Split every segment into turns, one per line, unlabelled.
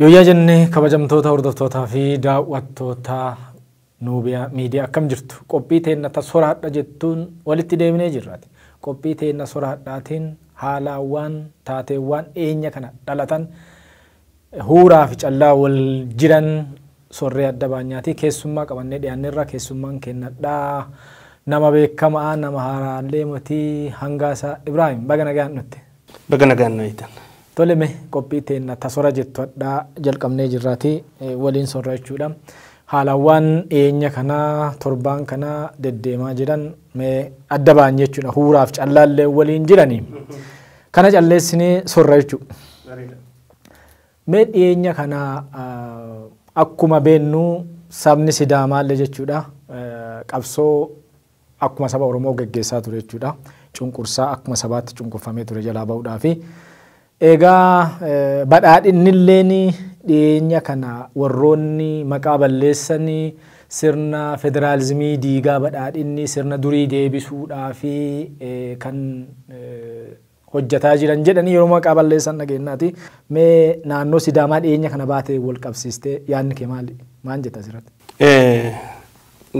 Yooyyaa jenne kabajamtoota hordoftootaa fi daawwattoota Nuubiyaa Miidiyaa akkam jirtu? Qophii teenna ta soraadha jettuun walitti deebinee jirraati. Qophii teenna soraadhaatiin haalaawwaan taateewwaan dhiyeenya kana dhalatan huuraa fi callaa wal jiran sorree adda baanyaatii keessummaa qabannee dhiyaanneerra keessummaan kennadhaa. Nama beekamaa nama haaraallee motii hangaasaa Ibraahim baga nagaan dhutte. Baga nagaan nu
eeytan. Tole me qophii
teenna ta sora jettu hadha jalqabnee jirraati waliin sorra jechuudha. Haalawwaan dhiyeenya kana torbaan kana deddeemaa jiran me adda ba'an jechuudha. Huuraaf callaallee waliin jirani. Kana calleessine sorra jechuu. Me dhiyeenya kana akkuma beennu sabni sidaamaallee jechuudha qabsoo akkuma saba Oromoo geggeessaa ture jechuu dha. Cunqursaa akkuma sabaatti cunqurfamee ture jalaa bahuudhaafi. Eegaa badhaadhinni illeen dhiyeenya kana warroonni maqaa balleessan sirna federaalizimii diigaa badhaadhinni sirna durii deebisuudhaafi kan hojjataa jiran jedhanii yeroo maqaa balleessan dhageennaati. Mee naannoo Sidaamaa dhiyeenya kana baate wal qabsiistee yaadni kee maali? Maan jetta asirratti?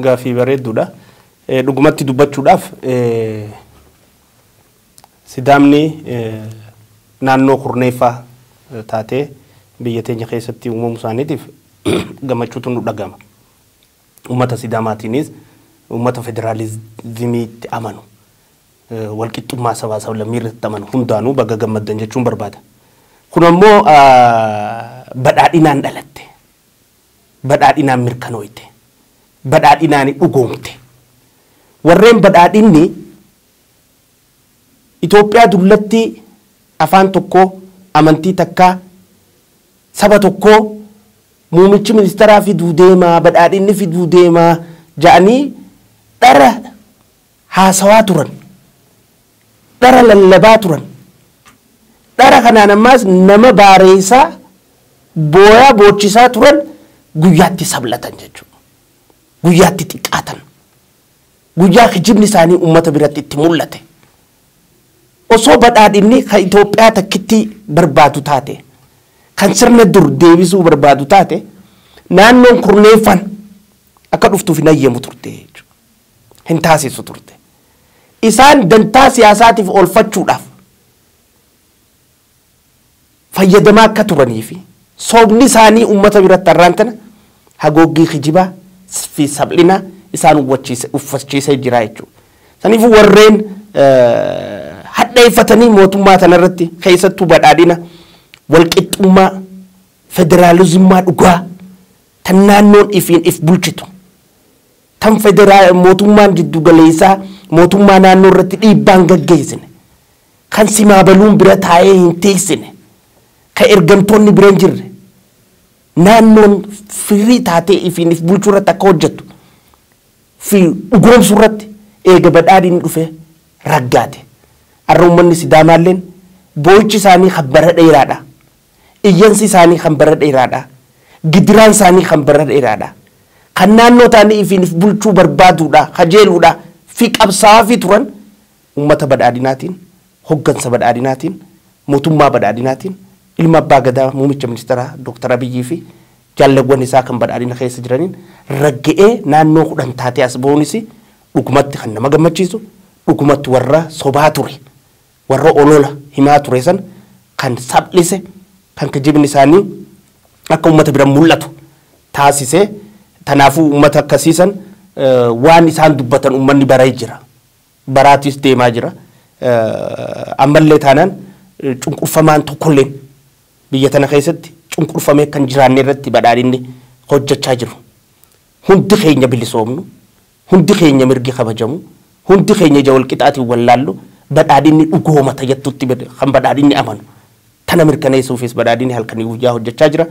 Gaaffii
bareedduudha. Dhugumatti dubbachuudhaaf Sidaamni naannoo kurneeffaa taatee biyya teenya keessatti uumamuu isaaniitiif gammachuutu nu dhaga'ama. Uummata Sidaamaatiinis uummata federaalizimiitti amanu, walqixxummaa sabaa sablammii irratti amanu hundaanuu baga gammaddan jechuun barbaada. Kun ammoo badhaadhinaan dhalatte, badhaadhinaan mirkanooyte, badhaadhinaan dhugoomte. Warreen badhaadhinni. Itoophiyaa dullattii afaan tokkoo, amantii takkaa, saba tokkoo muumichi ministaraa fiduu deema, badhaadhinni fiduu deema ja'anii dhara haasawaa turan. Dhara lallabaa turan. Dhara kanaan ammaas nama baareeysaa, booyaa boochisaa turan guyyaatti sablatan jechuudha. Guyyaatti xiqqaatan. Guyyaa kijibni isaanii uummata biratti itti mul'ate. Osoo badhaadhinni kan Itoophiyaa takkittii barbaadu taate, kan sirna dur deebisuu barbaadu taate, naannoon kurneeffan akka dhuftuuf hin hayyamu turte jechuudha. Hin taasisu turte. Isaan dantaa siyaasaatiif oolfachuudhaaf fayyadamaa akka turanii fi sobni isaanii ummata biratti har'aan tana hagooggii kijibaa fi saplinaa isaan uwwachiise, uffachiisee jira jechuudha. Saniifuu warreen hadheeffatanii mootummaa tana irratti keessattuu badhaadhina walqixxummaa federaalizimmaa dhugaa tan naannoon ifiin if bulchitu tan federaa mootummaan jiddu galeessaa mootummaa naannoo irratti dhiibbaan gaggeessine Kan simaabaluun bira taa'ee hin teessine, kan ergamtoonni bira hin jirre, naannoon free taatee ifiin if bulchuu irratti akka hojjettu fi dhugoomsuu irratti eega badhaadhinni dhufee raggaate. Arra ummanni Sidaamaalleen booyichi isaanii kan bara dheeraadha. Iyyansi isaanii kan bara dheeraadha. Gidiraan isaanii kan bara dheeraadha. Kan naannoo taa'anii ifiin if bulchuu barbaaduudha, kajeeluudha fi qabsaa'aafii turan, Ummata Badhaadhinaatiin, Hoggansa Badhaadhinaatiin, Mootummaa Badhaadhinaatiin, Ilma Abbaa Gadaa Muumicha Ministaraa Dr. Abiyyii fi Jaallewwan isaa kan Badhaadhina keessa jiraniin ragga'ee naannoo 10 taatee as bahuunis dhugumatti kan nama gammachiisu, dhugumatti warra sobaa ture, warra olola himaa ture san kan saphlise, kan kijibni isaanii akka ummata bira mul'atu taasise. Tanaafuu ummata akkasii san waan isaan dubbatan ummanni baree jira. baraatiis deemaa jira. Ammallee taanaan cunqurfamaan tokkolleen biyya tana keessatti cunqurfamee akka hin jiraanne irratti badhaadhinni hojjechaa jiru. Hundi keenya bilisoomnu, hundi keenya mirgi kabajamu, hundi keenya ija walqixaatiin wal laallu badhaadhinni dhugoomata jettutti kan badhaadhinni amanu. Tana mirkaneessuufis badhaadhinni halkanii guyyaa hojjechaa jira.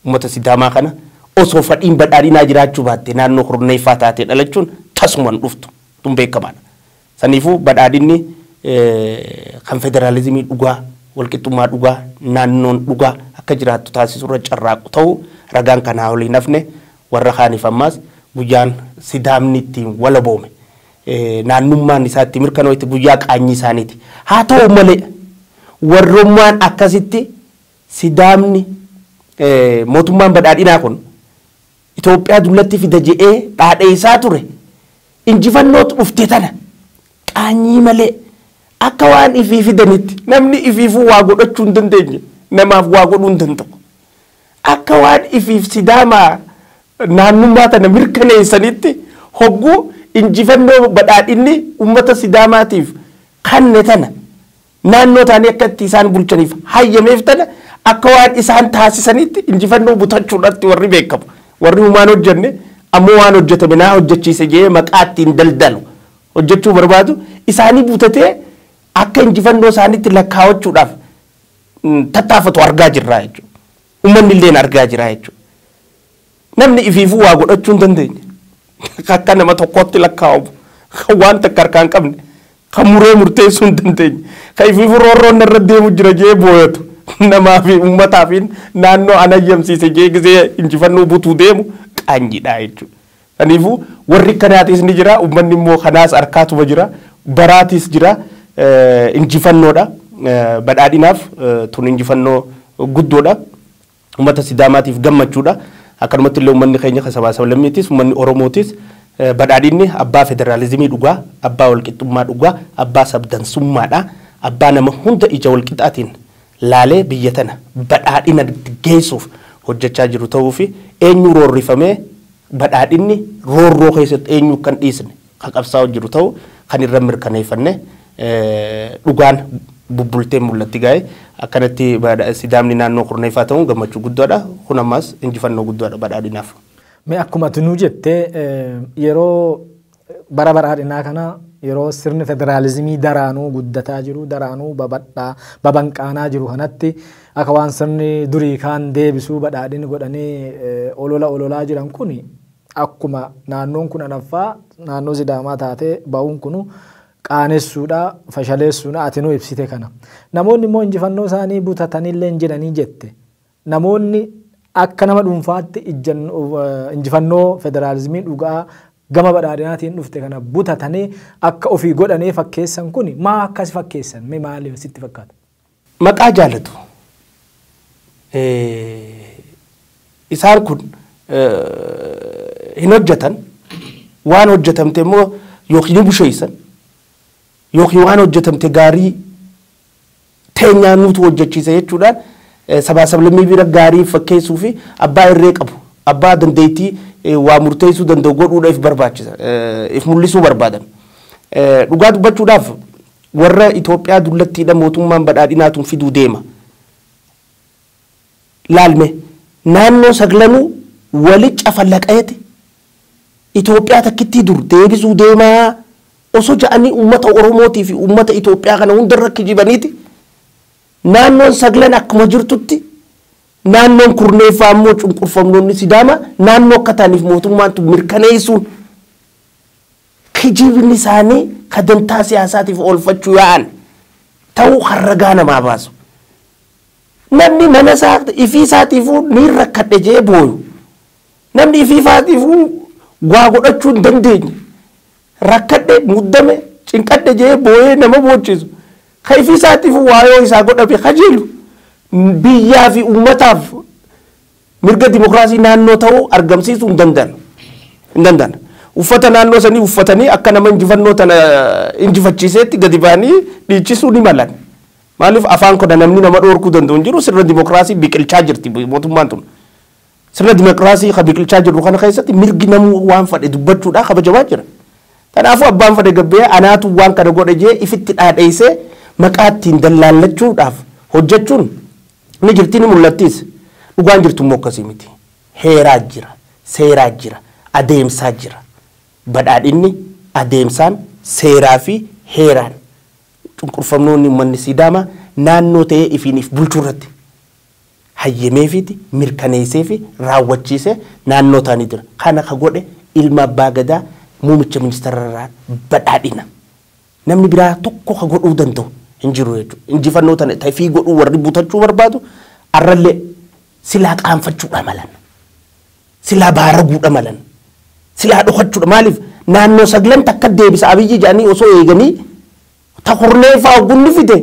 Uummata Sidaamaa kana osoo fadhiin badhaadhinaa jiraachuu baatte naannoo kurneeffaa taatee dhalachuun tasuma hin dhuftu. tun beekamaadha. Saniifuu badhaadhinni kan federaalizimii dhugaa, walqixxummaa dhugaa, naannoon dhugaa akka jiraattu taasisurra carraaqu ta'uu ragaan kan haa waliin hafne warra kaaniif ammaas guyyaan Sidaamni ittiin walaboome, naannummaan isaa itti mirkanooyte guyyaa qaanyii isaaniiti. Haa ta'u malee warrummaan akkasitti Sidaamni mootummaan badhaadhinaa kun Itoophiyaa dullatti fida je'ee dhaadheessaa ture injifannoot dhufte tana qaanyii malee akka waan ifii fidanitti namni ifiifuu waa godhachuu hin dandeenye namaaf waa godhuu hin danda'u. Akka waan ifiif Sidaamaa naannummaa tana mirkaneessanitti hogguu injifannoo badhaadhinni ummata Sidaamaatiif kanne tana Naannoo isaanii akka itti isaan bulchaniif hayyameef tana akka waan isaan taasisaniitti injifannoo butachuudhaatti warri beekamu. Warri humaan hojjenne ammoo waan hojjetame naa hojjechiise jedhee maqaa ittiin daldalu hojjechuu barbaadu isaanii butatee akka injifannoo isaaniitti lakkaawachuudhaaf tattaafatu argaa jirra jechuudha. Ummannilleen argaa jira jechuudha. Namni ifiifuu waa godhachuu hin dandeenye, kan akka nama tokkootti lakkaa'amu, kan waan takka harkaa hin qabne, kan muree murteessuu hin dandeenye, kan ifiifuu roorroon narra deemu jira je'ee booyatu, namaa fi ummataa fi naannoo an hayyamsiise je'ee gisee injifannoo butuu deemu qaanyiidha jechuudha. Saniifuu warri akkanaatiis ni jira, ummanni immoo kanaas arkaatuma jira, baraatiis jira, injifannoodha. Badhaadhinaaf tun injifannoo guddoodha. Ummata Sidaamaatiif gammachuudha. Akkanumattillee ummanni keenya kan sabaa sablammiitis, ummanni Oromootis Badhaadhinni abbaa federaalizimii dhugaa, abbaa walqixxummaa dhugaa, abbaa sabdansummaadha. Abbaa nama hunda ija walqixaatiin laalee biyya tana badhaadhinatti geessuuf hojjechaa jiru ta'uufi eenyuu roorrifamee badhaadhinni roorroo keessatti eenyuu akka hin dhiisne, kan qabsaa'u jiru ta'u kan irra mirkaneeffanne dhugaan bubbultee mul'atti gaa'e akkanatti sidaamni naannoo kurneeffaa ta'uun gammachuu guddaadha kun ammaas injifannoo guddaadha badhaadhinaaf. Mee akkuma ati
nuu jette yeroo bara badhaadhinaa kana yeroo sirni federaalizimii daraanuu guddataa jiru daraanuu babadhaa babanqaanaa jiru kanatti akka waan sirni durii kaan deebisuu badhaadhini godhanii olola ololaa jiran kun Akkuma naannoon kun anaffaa naannoo Sidaamaa taatee ba'uun kunu qaanessuudha, fashaleessuudha, ati nuu ibsite kana. Namoonni immoo injifannoo isaanii butatanilleen jiranii jette. Namoonni akka nama dhuunfaatti injifannoo federaalizimii dhugaa gama badhaadhinaatiin dhufte kana butatanii akka ofii godhanii fakkeessan kuni maa akka si fakkeessan mee maali sitti fakkaata? Maqaa jaalatu.
Isaan kun hin hojjetan. Waan hojjetamte immoo yookiin ni busheessan yookiin waan hojjetamte gaarii teenyaa nuutu hojjechiisa jechuudhaan sabaa sablammii bira gaarii fakkeessuu fi abbaa irree qabu abbaa dandeettii waa murteessuu danda'u godhuudha if barbaachisa if mul'isuu barbaadan. Dhugaa dubbachuudhaaf Warra Itoophiyaa dullattiidha mootummaan badhaadhinaa tun fiduu deema. Laal mee. Naannoo saglanuu wali cafalaqayeti Itoophiyaa takkittii dur deebisuu deemaa oso ja'anii ummata Oromootii fi ummata Itoophiyaa kana hunda irra kijibaniiti naannoon saglan akkuma jirtutti naannoon kurneeffaa ammoo cunqurfamnoonni Sidaamaa naannoo akka ta'aniif mootummaan tun mirkaneessuun Kijibni isaanii ka dantaa siyaasaatiif oolfachuu yaa'an ta'uu kan ragaa namaa baasu. Namni mana isaa ifii isaatiifuu niin rakkadhe je'ee booyu, namni ifii ifaatiifuu waa godhachuu hin dandeenye, rakkadhe, muddame, cinqadhe je'ee booyee nama boochisu, ka ifii isaatiifuu waa yoo isaa godhame kajeelu, biyyaa fi ummataaf, Mirga dimokiraasii naannoo ta'uu argamsiisuu hin danda'an. Hin danda'an. Uffata naannoo sanii uffatanii akka nama injifannoo tana injifachiiseetti gadi ba'anii dhiichisuu ni malan. Maaliif afaan kana namni nama dhoorkuu danda'u hin jiru sirna dimokiraasii biqilchaa jirti mootummaan tun. Sirna dimokiraasii ka biqilchaa jirru kana keessatti mirgi namuu waan fadhe dubbachuudhaa kabajamaa jira. Kanaafuu abbaan fadhe gabbee anaatu waan kana godhe jee ifitti dhaadheessee maqaa ittiin dallaallachuudhaaf hojjechuun Ni jirti, ni mul'attis. Dhugaan jirtu immoo akkasii miti. Heeraa jira, seeraa jira, adeemsaa jira. Badhaadhinni adeemsaan, seeraa fi heeraan cunqurfamnoonni ummanni Siidaamaa naannoo ta'ee ifiin if bulchuu irratti hayyameefiiti, mirkaneessee fi raawwachiisee naannoo taanii jira. Kana ka godhe ilma Abbaa Gadaa muumicha ministeera irraa badhaadhina. Namni biraa tokko ka godhuu danda'u hin jiru jechuudha. Injifannoo tana ta ifii godhuu warri butachuu barbaadu arrallee silaa qaanfachuudha malan. Silaa baaraguudha malan. Silaa dhokachuudha. Maaliif naannoo saglan takka deebisa Abiyyi jedhanii osoo eeganii ta kurneeffaa hogguu inni fide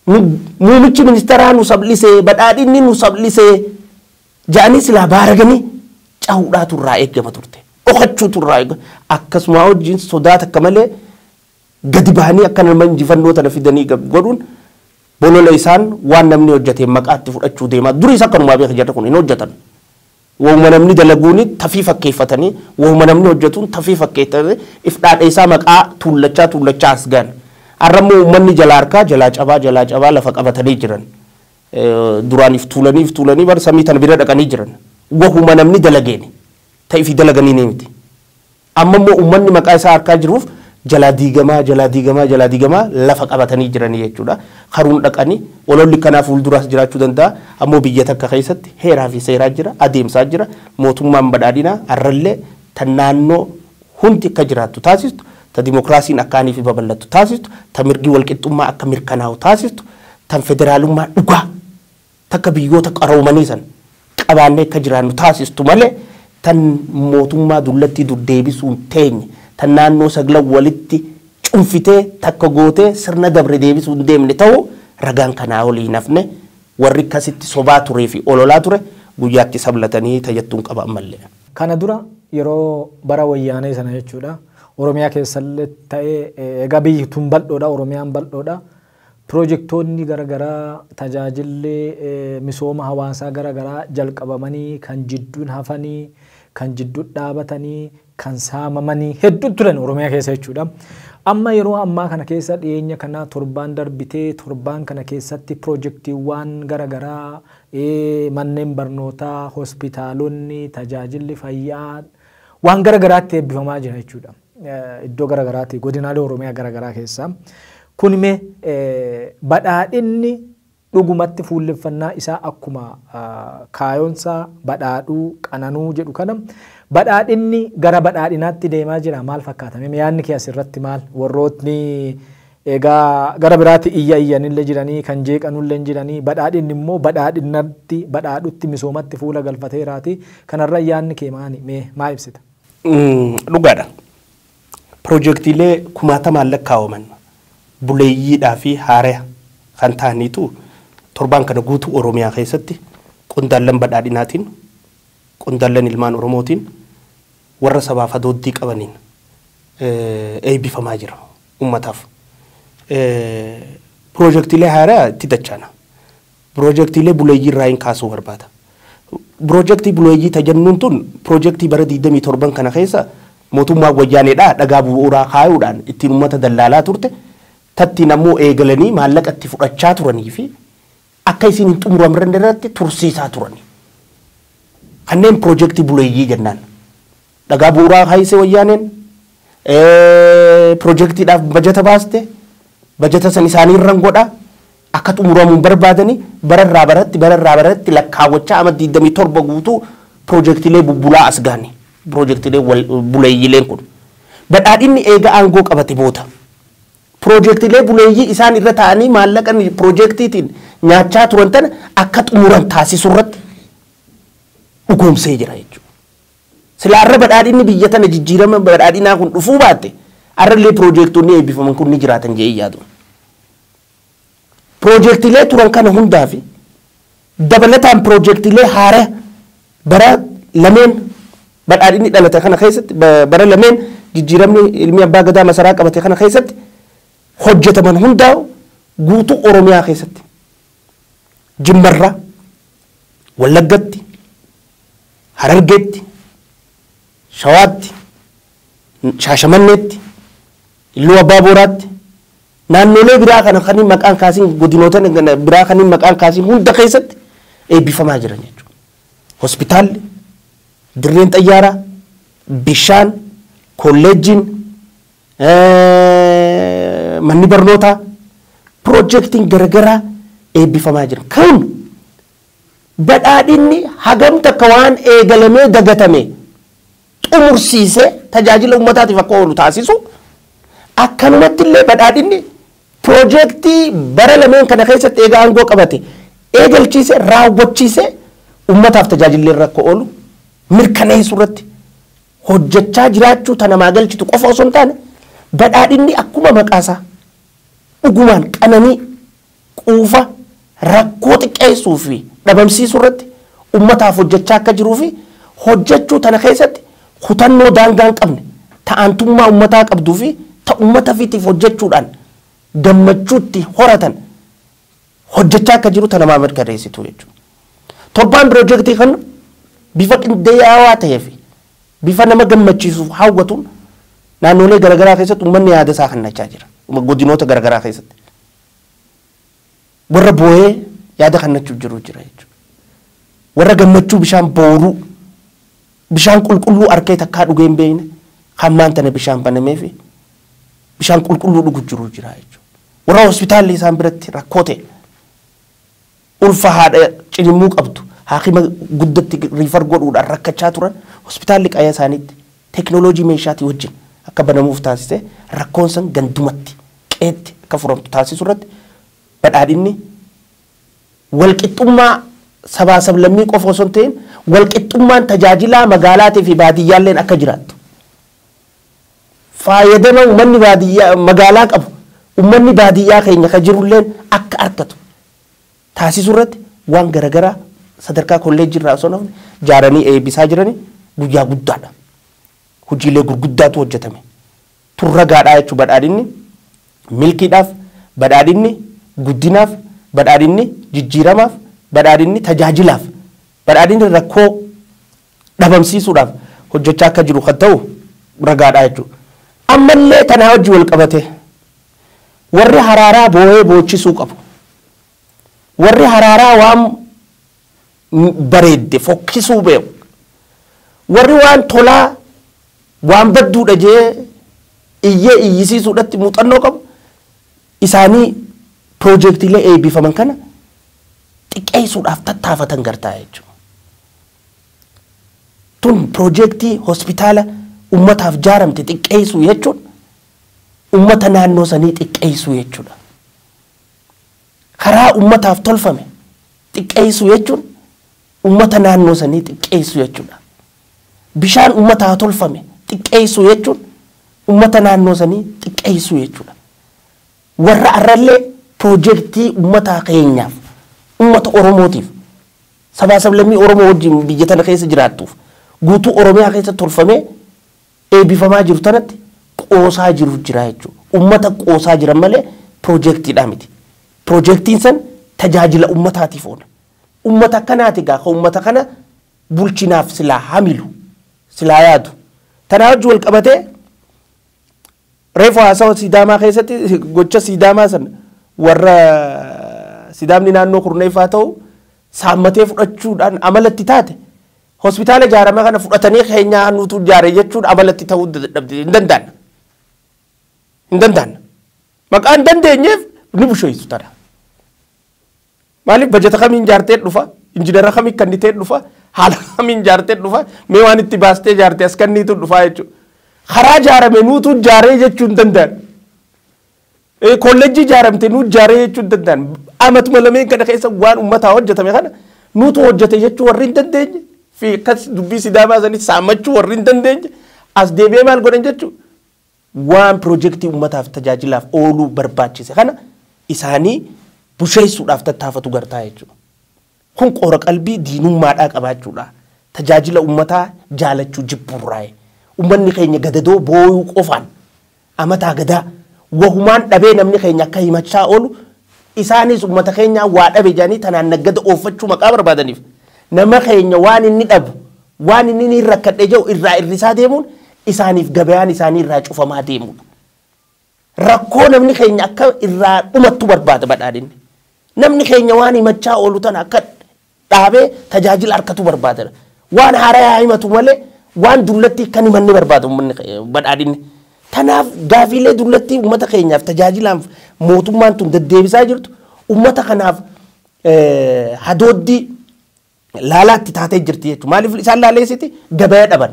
nu muumichi ministeeraa nu sablisee badhaadhinni nu sablisee ja'anii silaa baaraganii cahuudhaatu irraa eeggama turte. Dhokachuutu irraa eega. Akkasumaa wajjin sodaa takka malee gadi bahanii akka nama injifannoo tana fidanii gab godhuun bolola isaan waan namni hojjateen maqaatti fudhachuu deemaa. Duriis akkanumaa beeka jarri kun hin hojjatan. Wahuma namni dalaguuni tafii fakkeeffatanii wahuma namni hojjatuun tafii fakkeeffatanii if dhaadheessaa maqaa tuullachaa tuullachaa as gahan. Har'a immoo uummanni jalaa harkaa jalaa cabaa jalaa cabaa lafa qabatanii jiran. Duraaniif tuulaniif tuulanii bar samii tana bira dhaqanii jiran. Wahuma namni dalageeni. Ta ifi dalaganiinii miti. Amma immoo ummanni maqaa isaa harkaa jiruuf jalaa diigamaa, jalaa diigamaa, jalaa diigamaa lafa qabatanii jiranii jechuudha. Karuun dhaqanii ololli kanaa fuulduraas jiraachuu danda'a. Ammoo biyya takka keessatti heeraa fi seeraa jira, adeemsaa jira. Mootummaan badhaadhinaa har'allee tan naannoo hundi akka jiraattu taasistu, ta dimokiraasiin akka aniifi babal'attu taasistu, ta mirgi walqixxummaa akka mirkanaa'u taasistu, tan federaalummaa dhugaa takka biyyoota qaroomanii san qabaannee akka jiraannu taasistu malee tan mootummaa dullattii dur deebisuun teenye, tan naannoo saglan walitti cunfitee takka gootee sirna dabre deebisuu hin deemne ta'uu ragaan kanaa olii hin hafne. Warri akkasitti sobaa turee fi ololaa ture guyyaatti sablatanii ta jettuun qaba ammallee. Kana dura
yeroo bara wayyaanee sana jechuudha Oromiyaa keessallee ta'ee egaa biyyi tun bal'oodha Oromiyaan bal'oodha pirojektoonni gara garaa tajaajilli misooma hawaasaa gara garaa jalqabamanii kan jidduun hafanii kan jidduun dhaabatanii kan saamamanii hedduun turan Oromiyaa keessa jechuudha. Amma yeroo ammaa kana keessa dhiyeenya kana torbaan darbitee torbaan kana keessatti pirojektiiwwaan gara garaa i. Manneen barnootaa, hospitaalonni, tajaajilli fayyaa waan gara garaatti eebbifamaa jira jechuudha. Iddoo gara garaati godinaalee Oromiyaa gara garaa keessa. Kun mee badhaadhinni dhugumatti fuulleffannaa isaa akkuma kaayoonsaa badhaadhuu, qananuu jedhu kana badhaadhinni gara badhaadhinaatti deemaa jira maal fakkaata? Mee yaadni kee asirratti maal? Warrootni Egaa gara biraati iyya iyyanille jiranii, kan jeeqanulle jiranii, badhaadhinni immoo badhaadhinnatti, badhaadhutti, misoomatti fuula galfateeraati. Kanarra yaadni kee maani? Mee maa ibsita? Dhugaadha.
Pirojektiilee kumaatamaan lakkaa'aman buleeyyiidhaa fi haaraya kan ta'aniitu torbaan kana guutuu Oromiyaa keessatti qondaallan badhaadhinaatiin, qondaallan ilmaan Oromootiin, warra sabaaf hadooddii qabaniin eeybifamaa jira. Ummataaf piroojektiilee haaraa itti dachaana. Piroojektiilee buleeyyii irraa hin kaasuu barbaada. Piroojektii buleeyyii ta jennuun tun piroojektii bara 27 kana keessa mootummaan wayyaaneedhaa dhagaa bu'uuraa kaayuudhaan ittiin ummata dallaalaa turte tattiin ammoo eegalanii maallaqa itti fudhachaa turanii fi akka isiin hin xumuramrne irratti tursiisaa turani. Kanneen piroojektii buleeyyii jennaan. Dhagaa bu'uuraa kaayse wayyaaneen, pirojektiidhaaf bajata baaste, bajata san isaaniirran godha, akka xumuramu hin barbaadani, bara irraa baratti bara irraa baratti lakkaawwachaa ama 27 guutuu pirojektiilee bubbulaa as gahani, pirojektiilee buleeyyiileen kun. Badhaadhinni eega aangoo qabate booda pirojektiilee buleeyyii isaan irra taa'anii maallaqa pirojektiitiin nyaachaa turan tana akka xumuran taasisurratti dhugoomsee jira jechuudha. Silaa arra badhaadhinni biyya tana jijjiirama badhaadhinaa kun dhufuu baatte arrallee piroojeektoonni eebbifaman kun ni jiraatan jedhee yaadu. Piroojeektiilee turan kana hundaa fi dabalataan piroojeektiilee haaraya bara lameen badhaadhinni dhalate kana keessatti bara lameen jijjiiramni ilmi abbaa gadaa masaraa qabate kana keessatti hojjetaman hundaa'u guutuu Oromiyaa keessatti Jimmarra, Wallaggatti, Harargeetti, Shawaatti, Shaashamanneetti, Illuu Abbaa Booraatti, naannolee biraa kana kan hin maqaan kaasiin godinoota biraa kan hin maqaan kaasiin hunda keessatti eebbifamaa jiran jechuudha. Hospitaalli, dirreen xayyaaraa, bishaan, kolleejjiin, manni barnootaa piroojeektiin garagaraa eebbifamaa jira. Kun badhaadhinni hagam takka waan eegalamee dagatame xumursiisee tajaajila uummataatiif akka oolu taasisu akkanumatti illee badhaadhinni piroojeektii bara lameen kana keessatti eega aangoo qabate eegalchiisee raawwachiisee uummataaf tajaajillee irra akka oolu mirkaneessuu irratti hojjechaa jiraachuu ta namaa galchitu qofa osoo hin taane badhaadhinni akkuma maqaasaa dhugumaan qananii quufa rakkoo xiqqeessuu fi dhabamsiisuu irratti ummataaf hojjechaa akka jiruu fi hojjechuu tana keessatti kutannoo daangaa hin qabne ta aantummaa ummataa qabduu fi ta ummata fitiif hojjechuudhaan gammachuutti horatan hojjechaa akka jiru tanamaa mirkaneessitu jechuudha. Torbaan pirojektii kana bifa qindeeyaawaa ta'ee fi bifa nama gammachiisuuf hawwatuun naannolee garaagaraa keessatti uummanni yaada isaa kennachaa jira. Godinoota garaagaraa keessatti. Warra boo'ee yaada kennachuuf jiru jira jechuudha. Warra gammachuu bishaan booruu bishaan qulqulluu arkee takkaa dhugee hin beekne kan maan tana bishaan banamee fi bishaan qulqulluu dhugu jiru jira jechuudha. Warra hospitaalli isaan biratti rakkoo ta'e ulfa haadha cinimmuu qabdu haakima guddatti riifar godhuudhaan rakkachaa turan hospitaalli qaya isaaniitti teeknooloojii meeshaatii wajjin akka banamuuf taasise rakkoon san gandumatti qeetti akka furamtu taasisu irratti badhaadhinni walqixxummaa sabaa sablammii qofa osoo hin ta'in walqixxummaan tajaajilaa magaalaatii fi baadiyyaalleen akka jiraattu Faayadama ummanni baadiyyaa magaalaa qabu ummanni baadiyyaa keenya ka jirulleen akka arkatu taasisurratti waan garagaraa sadarkaa kolleejjii irraa osoo hin hafne jaaranii eebisaa jirani guyyaa guddaadha. Hojiilee gurguddaatu hojjetame. Tun ragaadhaa jechu badhaadhinni milkiidhaaf, badhaadhinni guddinaaf, badhaadhinni jijjiiramaaf, badhaadhinni tajaajilaaf, badhaadhinni rakkoo dhabamsiisuudhaaf hojjechaa akka jiru kan ta'u ragaadha jechuudha. Ammallee kanaa wajjin walqabatee warri haraaraa boo'ee boochisuu qabu. Warri haraaraa waan bareedde fokkisuu beeku. Warri waan tolaa waan badduudha jee iyyee iyyisiisuudhatti muuxannoo qabu isaanii piroojeektiilee eebbifaman kana xiqqeessuudhaaf tattaafatan gartaa jechuudha. Tun pirojeektii hospitaala ummataaf jaaramte xiqqeessuu jechuun ummata naannoo sanii xiqqeessuu jechuudha. Karaa ummataaf tolfame xiqqeessuu jechuun ummata naannoo sanii xiqqeessuu jechuudha. Bishaan ummataaf tolfame xiqqeessuu jechuun ummata naannoo sanii xiqqeessuu jechuudha. Warra arrallee pirojeektii ummataa keenyaaf, ummata Oromootiif Sabaa sablammii Oromoo wajjin biyya tana keessa jiraattuuf guutuu Oromiyaa keessa tolfamee eebifamaa jiru tanatti qoosaa jiru jira jechuu. Ummata qoosaa jiran malee piroojeektiidhaa miti. Piroojeektiin san tajaajila ummataatiif oola. Ummata akkanaati gaa ka ummata kana bulchinaaf silaa hamilu, silaa yaadu. Tanaa wajji wal qabatee Reefu haasawa Siidaamaa keessatti gocha Siidaamaa sana warra Sidaamni naannoo kurneeffaa ta'u saammatee fudhachuudhaan amalatti taate hospitaala ijaarame kana fudhatanii keenyaa nuutu ijaare jechuun amalatti ta'uu dadhabde hin danda'an. Hin danda'an. Maqaan dandeenyeef ni busheessu tana. Maaliif bajata kamiin ijaartee dhufa? Injinara kamiin kannitee dhufa? Haala kamiin ijaartee dhufa? Mee waan itti baastee ijaarte as kanniitu dhufaa jechuudha. Karaa ijaarame nuutu ijaaree jechuu hin danda'an. Eh, Kollejjii ijaaramte nuu ijaaree jechuu hin danda'an. Amatuma lameen kana keessa waan uummataa hojjetame kana nuutu hojjete jechuu warri hin dandeenye fi akkas dubbii sidaamaa sanis saammachuu warri hin dandeenye as deebi'ee maal godhan jechuudha. waan pirojektii ummataaf tajaajilaaf ooluu barbaachise kana isaanii busheessuudhaaf tattaafatu gartaa jechuudha. Kun qoora qalbii diinummaadhaa qabaachuudhaa, tajaajila ummataa jaalachuu jibbuurraayi. Ummanni keenya gadadoo booyuu qofaan, amataa gadaa, wahumaan dhabee namni keenya akka himachaa oolu Isaanis ummata keenyaa waa dhabe jedhanii tanaan naggada ooffachuu maqaa barbaadaniif nama keenya waan inni dhabu, waan inni niin rakkadhe jedhu irraa irrisaa deemuun isaaniif gabayaan isaanii irraa cufamaa deemuudha. Rakkoo namni keenya akka irraa dhumattu barbaada badhaadhinni. Namni keenya waan himachaa oolu tana akka dhaabee tajaajila arkatuu barbaadera. Waan haaraya haa himatu malee waan dullatti akka hin himanne barbaada uummanni ke- badhaadhinni. Tanaaf gaafiilee dullattii uummata keenyaaf tajaajilaaf mootummaan tun deddeebisaa jirtu uummata kanaaf eh, hadooddii laalaatti taatee jirti jechuudha. Maaliif isaan laaleessiti gabaya dhaban.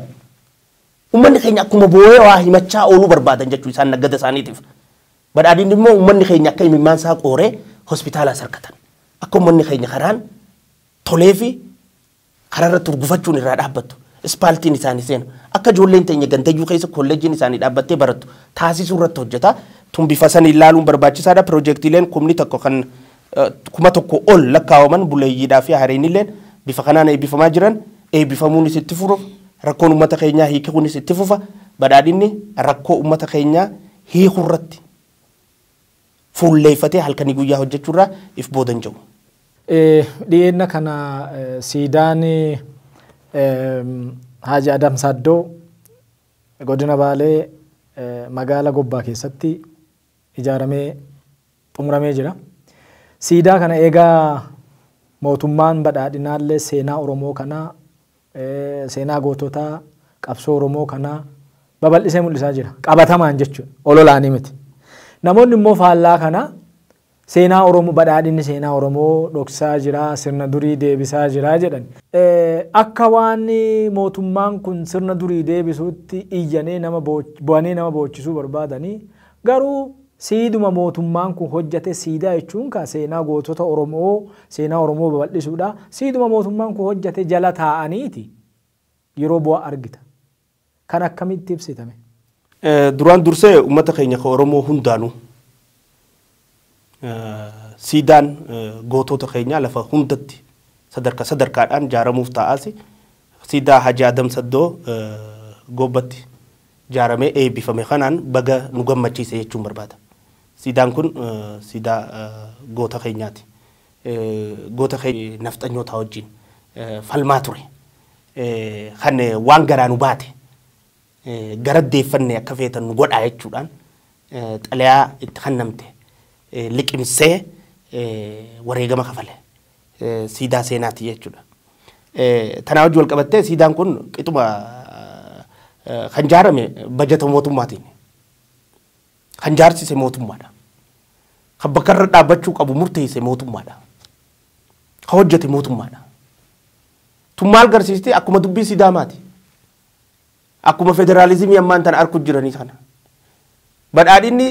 Uummanni keenya akkuma boo'ee waa himachaa ooluu barbaadan jechuudha isaan naggada isaaniitiif. Badhaadhinni immoo ummanni keenya akka imimmaan isaa qooree hospitaalaa sarkatan akka ummanni keenya karaan tolee fi karaa irratti urgufachuun irraa dhaabbattu ispaaltiin isaanii seenu akka ijoolleen teenya gandayyuu keessa kolleejjiin isaanii dhaabbattee barattu taasisuu irratti hojjeta. Tun bifa saniin ilaaluun barbaachisaadha. Piroojeektiileen kumni tokko kan kuma tokko ol lakkaawaman buleeyyiidhaa fi hariinilleen bifa kanaan eebbifamaa jiran eebbifamuunis itti furuuf rakkoon ummata keenyaa hiikikuunis itti fufa badhaadhinni rakkoo ummata keenyaa hiikurratti fuulleeffatee halkanii guyyaa hojjechuurraa if booda hin jedhu.
Dhiyeenna kana siidaan Haaji Adam Saaddoo godina Baalee magaala Gobbaa keessatti ijaaramee xumuramee jira. Siidaa kana eega mootummaan badhaadhinaallee seenaa Oromoo kanaa, seenaa goototaa qabsoo Oromoo kanaa babal'isee mul'isaa jira. Qabatamaan jechuudha. Ololaanii miti. Namoonni immoo faallaa kanaa seenaa Oromoo badhaadhinni seenaa Oromoo dhoksaa jira, sirna durii deebisaa jira jedhan. Akka waan mootummaan kun sirna durii deebisuutti iyyanee nama bo'anii nama boochisuu barbaadanii Garuu siiduma mootummaan kun hojjate siidaa jechuun kaa seenaa gootota Oromoo seenaa Oromoo babal'isuudha. Siiduma mootummaan kun hojjate jala taa'aniiti yeroo bu'aa argita. Kana akkamitti ibsita mee? Duraan
dursee uummata keenya ka Oromoo hundaanuu. Siidaan gootoota keenyaa lafa hundatti sadarka sadarkaadhaan jaaramuuf taa'aas siidaa Haji Adam Saddoo Goobbatti jaaramee eebbifame kanaan baga nu gammachiise jechuun barbaada. Siidaan kun siidaa goota keenyaati. Goota keenya nafxanyootaa wajjin falmaa ture. Kan waan garaa nu baate gara deeffanne akka feetan nu godhaa jechuudhaan xalayaa itti kennamte liqimsee wareegama kafale siidaa seenaati jechuudha. Tanaa wajji wal qabattee siidaan kun qixuma kan jaarame bajata mootummaatiin kan jaarsise mootummaadha. Kan bakka irra dhaabbachuu qabu murteesse mootummaadha. Kan hojjete mootummaadha. Tun maal garsiisti akkuma dubbii sidaamaati. Akkuma federaalizimii ammaan tana arku jiranii kana badhaadhinni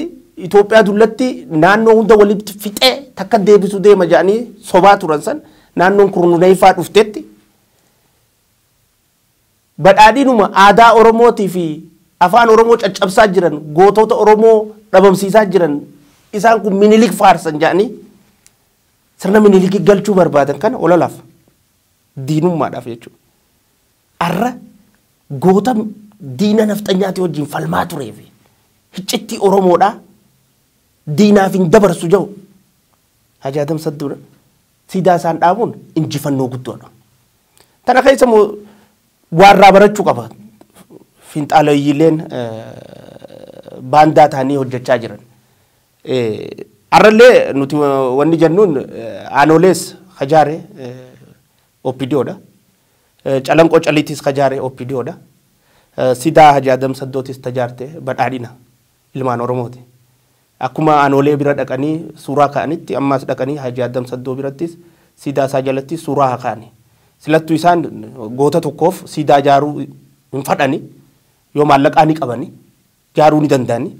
Itoophiyaa dullatti naannoo hunda walitti fixee takka deebisu deema jedhanii sobaa turan san naannoon kurnuneeffaa dhuftetti badhaadhinuma aadaa Oromootii fi afaan Oromoo caccabsaa jiran gootota Oromoo dhabamsiisaa jiran isaan kun minilik faarsan jedhanii sirna minilikii galchuu barbaadan kana ololaaf diinummaadhaaf jechuudha. Arra goota diina nafxanyaatii wajjin falmaa turee fi hiccittii Oromoodhaa diinaaf hin dabarsu jedhu Haji Adam Sadduu siidaa isaan dhaabuun injifannoo guddoodha. Tana keessa immoo waa irraa barachuu qaba. Finxaalawiyyiileen baandaa ta'anii hojjechaa jiran. Arrallee nuti wanni jennuun aanolees hajaare OPDOdha. Calanqoo Caliitis ka jaare opdo dha. Sidaa Haji Adam Saddootis ta jaarte Badhaadhina, ilmaan Oromooti. Akkuma Aanoolee bira dhaqanii suuraa ka'anitti ammaas dhaqanii Haji Adam Saddoo birattis siidaa isaa jalattis suuraa haa ka'ani. Silattu isaan goota tokkoof siidaa jaaruu hin fadhani. Yoo maallaqaa ni qabani. jaaruu ni danda'ani.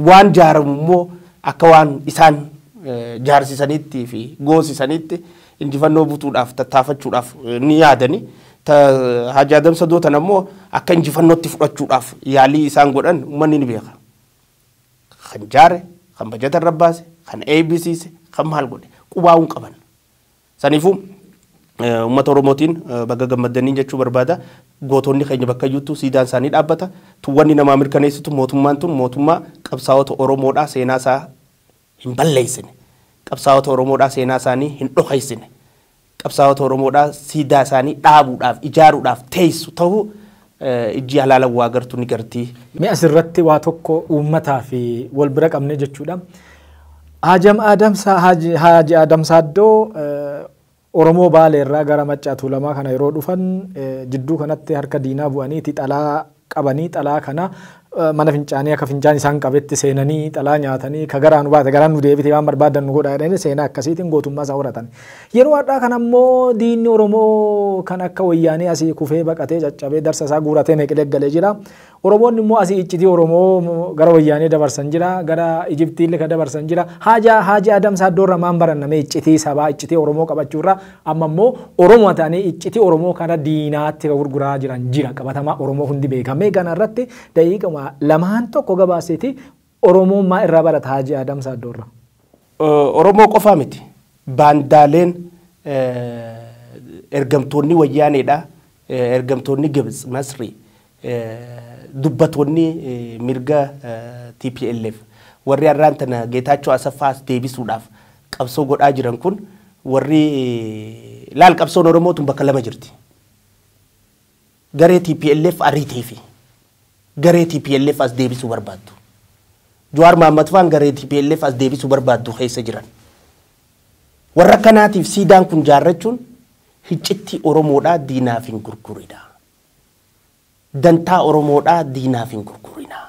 Waan jaaramu immoo akka waan isaan jaarsisaniitti fi goosisaniitti injifannoo butuudhaaf tattaafachuudhaaf ni yaadani. Haaji Adam Sadoo tana immoo akka injifannootti fudhachuudhaaf yaalii isaan godhan uummanni ni beeka. Kan jaare, kan bajata irra baase, kan eebbisiise, kan maal godhe qubaa'uun qaban. Saniifuu Ummata Oromootiin baga gammaddaniin jechuu barbaada. Gootonni keenya bakkayyuuttuu siidaan isaanii dhaabbata. Tun wanni namaa mirkaneessitu mootummaan tun mootummaa qabsaawota Oromoodhaa seenaa isaa hin balleessine. Qabsaawota Oromoodhaa seenaa isaanii hin dhokeessine. Qabsaawota Oromoodhaa siidaa isaanii dhaabuudhaaf, ijaaruudhaaf teessu tahuu Ijji halaalan waa gartu ni garti. Mee as irratti waa
tokko uummataaf wal bira qabnee jechuudha. Haajam Aadam Saa Haaji Haaji Aadam Saaddoo Oromoo Baalee irraa gara Maccaa Tuulamaa kana yeroo dhufan jidduu kanatti harka diinaa bu'aniiti xalaa qabanii xalaa kana mana fincaanii akka fincaan isaan qabetti seenanii dhalaa nyaatanii ka garaa nu baate garaa nu deebite waan barbaadan nu godhaa jedhanii seenaa akkasiitiin gootummaa isaa horatan. Yeroo har'aa kana immoo diinni Oromoo kan akka wayyaanee asii kufee baqatee caccabee darsa isaa guuratee meeqilee galee jira. Oromoonni immoo asii iccitii Oromoo gara wayyaanee dabarsan jira gara Ijiptiillee ka dabarsan jira. Haajaa Haajii Adamsaa Doorra maan barannamee iccitii sabaa iccitii Oromoo qabachuurraa Amma immoo Oromoo ta'anii iccitii Oromoo kana diinaatti ka gurguraa jiran jira qabatamaa Oromoo hundi beeka. Mee kana irratti daqiiqama lamaan tokko gabaasiti Oromoon maa irraa barata Haji Adam Saaddoo
irraa?
Oromoo qofaa miti baandaaleen
ergamtoonni wayyaaneedha ergamtoonni Gibts, Masrii Dubbatoonni mirga tplf warri arraan tana Geetaachoo Asaffaa as deebisuudhaaf qabsoo godhaa jiran kun warri laal qabsoon Oromoo tun bakka lama jirti. Garee tplf ariitee fi garee tplf as deebisuu barbaaddu. Jawaar Mahaammad faan garee tplf as deebisuu barbaaddu keessa jiran. Warra akkanaatiif siidaan kun jaarrachuun hiccittii Oromoodhaa diinaaf hin gurgurinaa. Dantaa Oromoodhaa diinaaf hin gurgurinaa.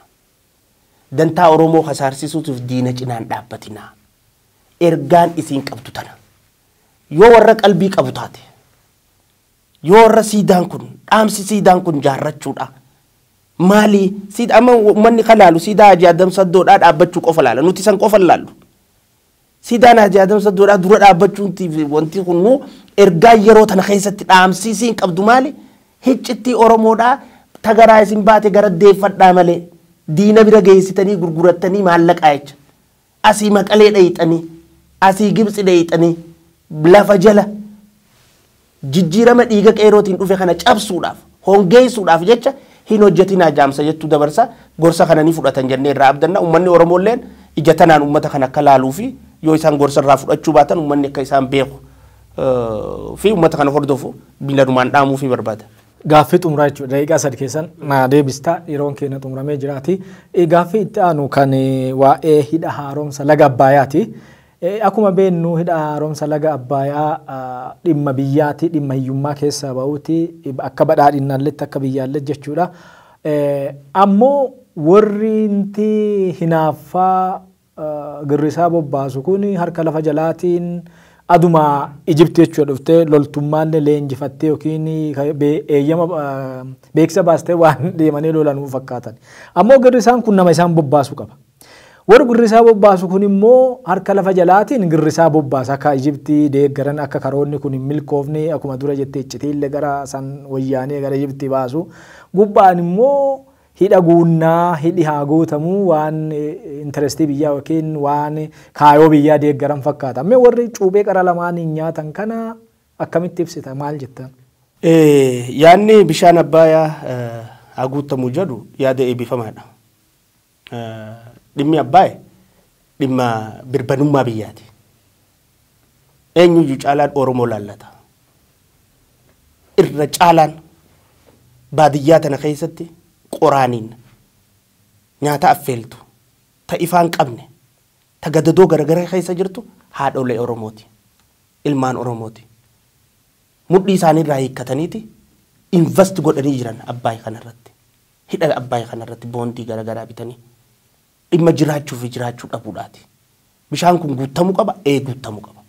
Dantaa Oromoo kasaarsisuutiif diina cinaa hin dhaabbatinaa. Ergaan isiin qabdu tana. Yoo warra qalbii qabu taate, yoo warra siidaan kun, dhaamsi siidaan kun jaarrachuudha. Maalii? Siid, amma ummanni ka laalu siidaa Haaji Adam Saddoodhaa dhaabbachuu qofa laala. Nuti san qofa hin laallu. Siidaan Haaji Aadam Saddoodhaa dura dhaabbachuuntiif wanti kunnuu ergaa yeroo tana keessatti dhaamsii isiin qabdu maali? Hiccittii Oromoodhaa ta garaa isin baate gara deeffadhaa malee diina bira geessitanii gurgurattanii maallaqaa jecha. Asii Maqalee dhayxanii, asii Gibtsi dhayxanii, lafa jala, Jijjiirama dhiiga qeerootiin dhufe kana cabsuudhaaf, hongeessuudhaaf jecha hin hojjetinaa jaamsa jettu dabarsa. Gorsa kana ni fudhatan jennee irraa abdanna. Ummanni Oromoolleen ija tanaan ummata kana akka laaluu fi yoo isaan gorsa irraa fudhachuu baatan ummanni akka isaan beeku fi ummata kana hordofu milanumaan dhaamuufii barbaada. Gaaffii xumuraa jechuudha.
Daqiiqaa sadi keessan naa deebista. Yeroon keenya xumuramee jiraati. Gaaffii itti aanu kan waa'ee hidha haaromsa laga Abbaayaati. Ee akuma beennu hidha haaromsa laga Abbaaya dhimma biyyaati dhimma hiyyummaa keessaa ba'uuti akka badhaadhinnaalletti akka biyyaallet jechuudha. Ammo worri nti hinaaffa girrisaa bobbaasu kun harka lafa jalaatiin aduma Egypt jechuudha dhufte loltummaalle leenjifattee yookiin eeyyama beeksisa baastee waan deemanii lola nuu fakkaatan. Ammo girrisaan kun nama isaan bobbaasu qaba. Warri girrisaa bobbaasu kun immoo harka lafa jalaatiin girrisaa bobbaasa akka Ijibti deeggaran akka karoonni kun hin milkoofne akkuma dura jette iccitiille gara san wayyaanee gara Ijibti baasu gubbaan immoo hidha guunnaa hidhi haa guutamu waan interestii biyyaa yookiin waan kaayoo biyyaa deeggaran fakkaata. Mee warri cuuphee qara lamaaniin nyaatan kana akkamitti ibsita maal jettaan?
Yaadni bishaan Abbaayaa haa guuttamu jedhu yaada eebifamaadha. Dhimmi Abbaay dhimma birbanummaa biyyaati. Eenyuyyuu caalaan Oromoo laallata. Irra caalaan baadiyyaa tana keessatti qoraaniin nyaata affeeltu ta ifaan qabne ta gadadoo garagaraa keessa jirtu haadholee Oromooti. Ilmaan Oromooti. Mudhii isaanii irraa hiikkataniiti invest godhanii jiran Abbaay kanarratti. Hidha Abbaay kana irratti boondii gara garaa bitanii dhimma jiraachuu fi jiraachuu dhabuudhaati. Bishaan kun guuttamuu qaba, ee guuttamuu qaba.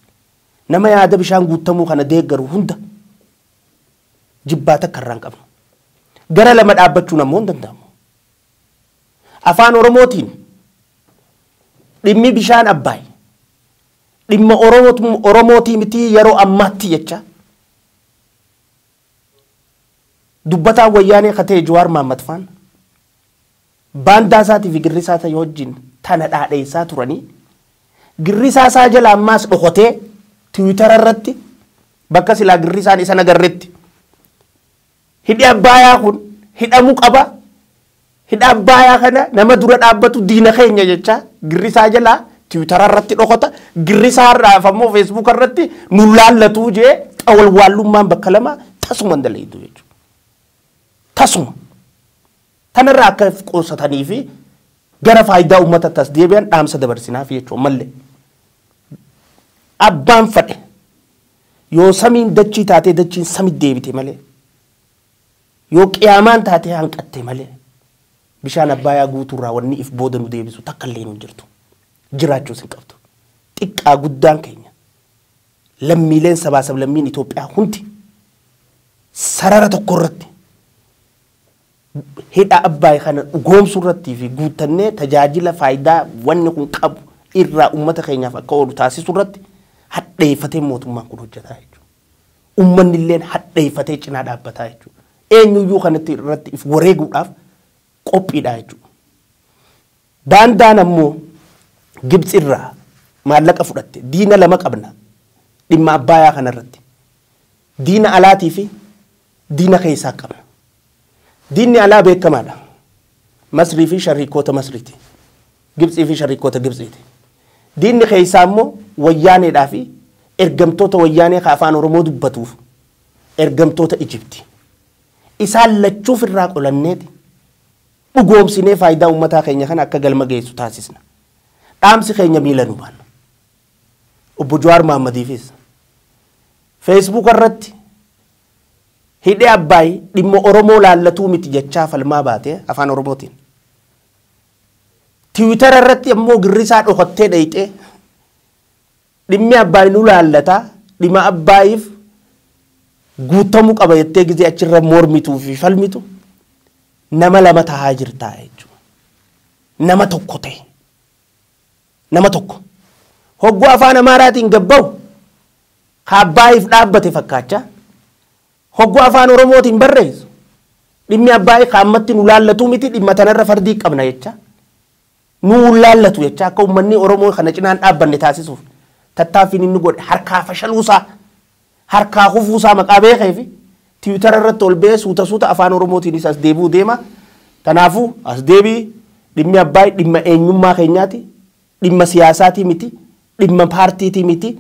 Nama yaada bishaan guuttamuu kana deeggaru hunda jibbaata akka irraa hin qabnu. Gara lama dhaabbachuun ammoo hin danda'amu. Afaan Oromootiin dhimmi bishaan Abbaay dhimma Oromootu- Oromootii mitii yeroo ammaatti jechaa Dubbataan Wayyaanee ka ta'e Jawaar Mahaammad faan baandaa isaatii fi girrisaa isaa wajjin tana dhaadheessaa turanii girrisaa isaa jala ammaas dhokotee tiwiitara irratti bakka silaa girrisaan isa nagarretti hidhi abbaayaa kun hidhamu qaba Hidha Abbaayaa kana nama dura dhaabbatu diina keenya jechaa Girrisaa jalaa tiwitara irratti dhokata, Girrisaa irraaf ammoo feesbuuka irratti nu laallatuu jee xawalwaallummaan bakka lama tasuma hin dalaydu jechuudha. Tasuma. Tanarraa akka of qusatanii fi gara faayidaa uummata tas deebi'an dhaamsa dabarsinaaf jechuudha malle. Abbaan fadhe yoo samiin dachii taatee dachiin samit deebite malee Yoo Qiyaamaan taatee hanqatte malee, bishaan Abbaayaa guutuurraa wanni if booda nu deebisu takkalleenu hin jirtu. Jiraachuus hin qabdu. Xiqqaa guddaan keenya, lammiileen sabaa sablammiin Itoophiyaa hundi sarara tokkorratti hidha Abbaay kana dhugoomsuurrattii fi guuttannee tajaajila faayidaa wanni kun qabu irraa ummata keenyaaf akka oolu taasisurratti hadheeffatee mootummaan kun hojjataa jechuudha. Ummannilleen hadheeffatee cinaa dhaabbataa jechuudha. Eenyuyyuu kanatti irratti if wareeguudhaaf qophiidhaa jechuudha. Baandaan ammoo Gibtsi irraa maallaqa fudhatte diina lama qabna dhimma Abbaayaa kanarratti. Diina alaatii fi Diina keessaa qabna. Diinni alaa beekamaadha. Masrii fi shariikoota Masriiti. Gibtsii fi shariikoota Gibtsiiti. Diinni keessaa immoo wayyaaneedhaa fi ergamtoota wayyaanee ka afaan Oromoo dubbatuuf ergamtoota Ijibti. Isaan lachuuf irraa qolanneeti dhugoomsinee faayidaa uummataa keenya kana akka galma geessu taasisna. Dhaamsi keenya miila nu baanna. Obbo Jawaar Mahaammadiifis feesbuuka irratti Hidhi Abbaay dhimma Oromoo laallatuu miti jechaa falmaa baate Afaan Oromootiin. Tiwitara irratti ammoo girrisaa dhokattee dhayxee dhimmi Abbaay nu laallata dhima Abbaayiif guuttamu qaba jettee gizee achirra mormituu fi falmitu nama lama tahaa jirtaa jechuudha. Nama tokko ta'e. Nama tokko. Hogguu afaan Amaaraatiin gabbahu Kaabbaayiif dhaabbate fakkaachaa hogguu Afaan Oromootiin barreessu dhimmi Abbaayii ka ammatti nu laallatuu miti dhimma tanarra fardii qabna jechaa nu hin laallatu jechaa akka ummannii Oromoo kana cinaan dhaabbanne taasisuuf tattaaffiin inni godhe harkaa fashaluusaa harkaa kufuusaa maqaa beekee fi tiwitara irratti ol ba'ee suuta suuta Afaan Oromootiinis as deebi'uu deema. Kanaafuu as deebii dhimmi Abbaayii dhimma eenyummaa keenyaati dhimma siyaasaatii miti Dhimma paartiitii miti,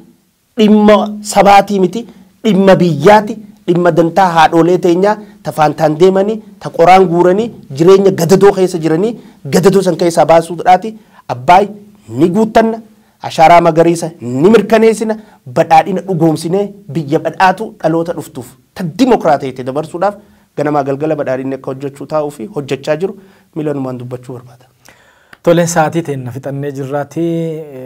dhimma sabaatii miti, dhimma biyyaati, dhimma dantaa haadhoolee teenyaa ta faantaan deemanii, ta qoraan guuranii, jireenya gadadoo keessa jiranii gadadoo san keessaa baasuudhaati. Abbaay ni guuttanna, Ashaaraa Magariisa ni mirkaneessina, badhaadhina dhugoomsinee biyya badhaatuu dhaloota dhuftuuf ta dimokraatayte dabarsuudhaaf ganamaa galgala badhaadhinni akka hojjachuu taa'uu fi hojjachaa jiru milanumaan dubbachuu barbaada. Tole sa'atii
teenna fixannee jirraati.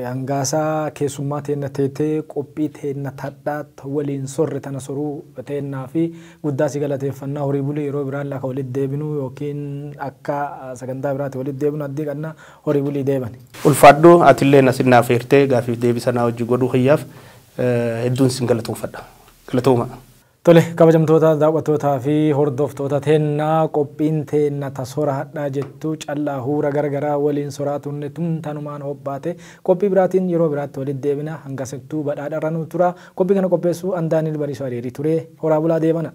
Hangaasa keessummaa teenna teetee qophii teenna tadhaat waliin sorre tana soruu teennaa fi guddaa si galateeffannaa horii buli yeroo biraallee akka walitti deebinu yookiin akka sagantaa biraati walitti deebinu addii qanna horii bulii deebani. Ulfaadhu atilleen
asit na afeertee gaafiif deebii sanaa wajji godhuu kiyyaaf hedduun sin galatoomfadha. Galatoomaa. Tole
kabajamtoota daaw'attootaa fi hordoftoota teenna qophiin teenna ta sora hadhaa jettu callaa huura gara garaa waliin soraa turne tun tanumaan hobbaate qophii biraatiin yeroo biraatti walitti deebina hangasattuu badhaadha irra nuu turaa qophii kana qopheessuu an Daaniil Bariisoo Areerii ture horaa bulaa deebana.